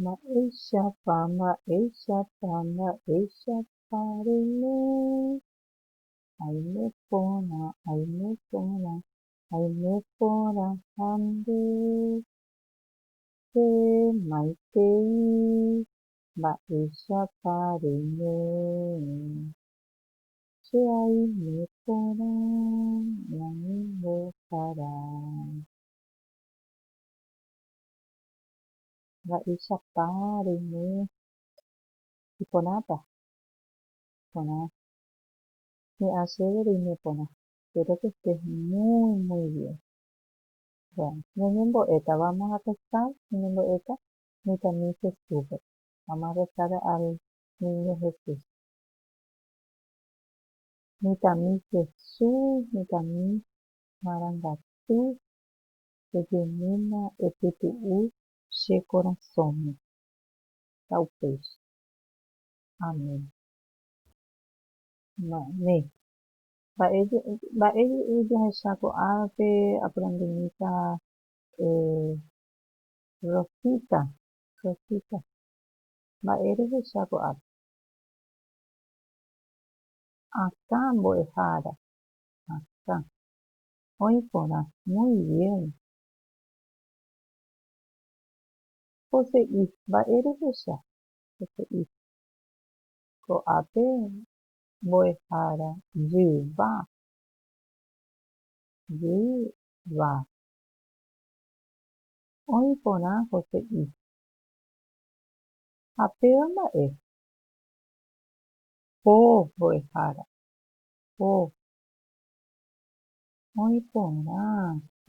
Mba'éichapa, mba'éichapa, mba'éichapa reime, aime porã, aime porã, aime porã ha nde, che maitei, mba'éichapa reime. Che aime porã ñane mbohara. Mba'éichapa roime iporãta? Iporã. He'a chéve roime porã. Espero que estés muy, muy bien. Bueno, ñañembo'éta, vamos a rezar, ñañembo'éta mitãmi Jesúspe. Vamos a rezar al Niño Jesús. Mitãmi Jesús, mitãmi marangatu, ejeýma epytu'u che korasõme. Ha upéicha. Amén. Ma'e. Mba'e, mba'e jahecha ko árape aprendimíta Rosita, Rosita. Mba'e rehecha ko ápe. Akã mbo'ehára. Akã. Oĩ porã. Muy bien. Pose'i. Mba'e rehecha. Pose'i. Ko'ápe mbo'ehára jyva. Jyva. Oĩ porã pose'i. Ha péva mba'e. Oh mbo'ehára, oh. Oĩ porã,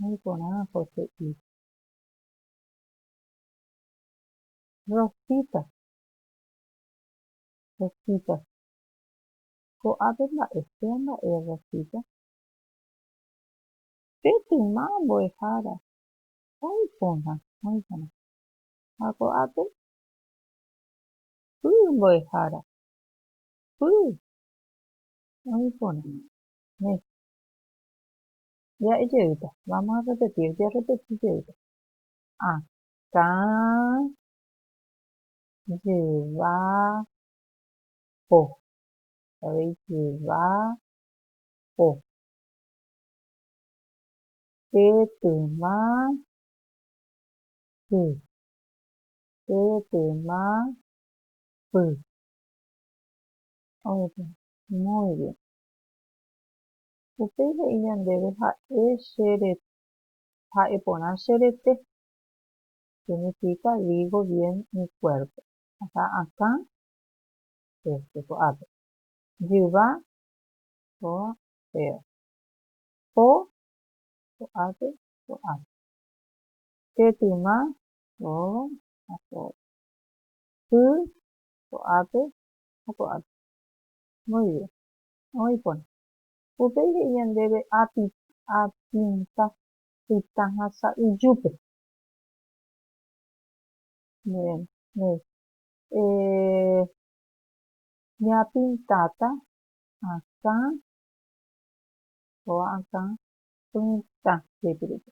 oĩ porã poteĩ. Rosita, Rosita. Ko'ápe mba'e, péa mba'e Rosita. Pe tyma mbo'ehára, oĩ porã, oĩ porã. Ha ko'ápe? Py mbo'ehára. Py. Oĩ porã. Mési. Ja'e jeýta. Vamos a repetir. Jerrepeti jeýta. Akã jeva po. Avei jeva po. Pe tyma sy. Pe tema py. Oĩta. Muy bien. Upéi he'i ñandéve ha'e che re, ha'e porã che rete. Significa digo bien mi cuerpo. Akã akã, este ko'ápe. Jyva, kóva, péva. Po, ko'ápe, ko'ápe. Pe tyma, Róga ha kóva. Sy, ko'ápe ha ko'ápe. Muy bien. Oĩ porã. Upéi he'i ñandéve api, apinta, pytã ha sa'yjúpe. Bien. Néi. Eh, ñapintáta akã, kóva akã, pytã jepirupe.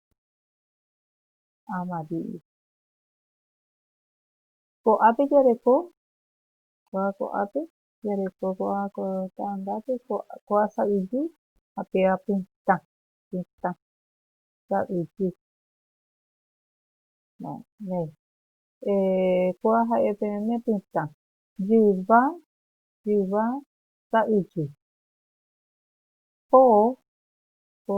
Amadío. Ko'ápe jareko, ko'ã ko'ápe, jareko ko'ã ko ta'angápe, ko'ã sa'yju ha péva pytã, pytã sa'yju. Ko'ã ha'e peẽme pytã, jyva, jyva sa'yju. Po, po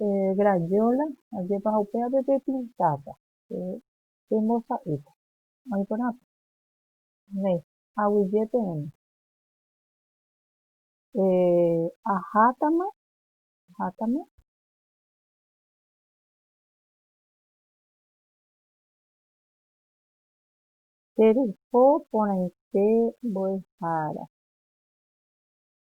Eh, Grayola, ajépa ha upéape pepintáta, pe, pembosa'ýta. Oĩ porãpa. Néi, aguyje peẽme. Eh, ahátama, ahátama. Teryho porãite mbo'ehára.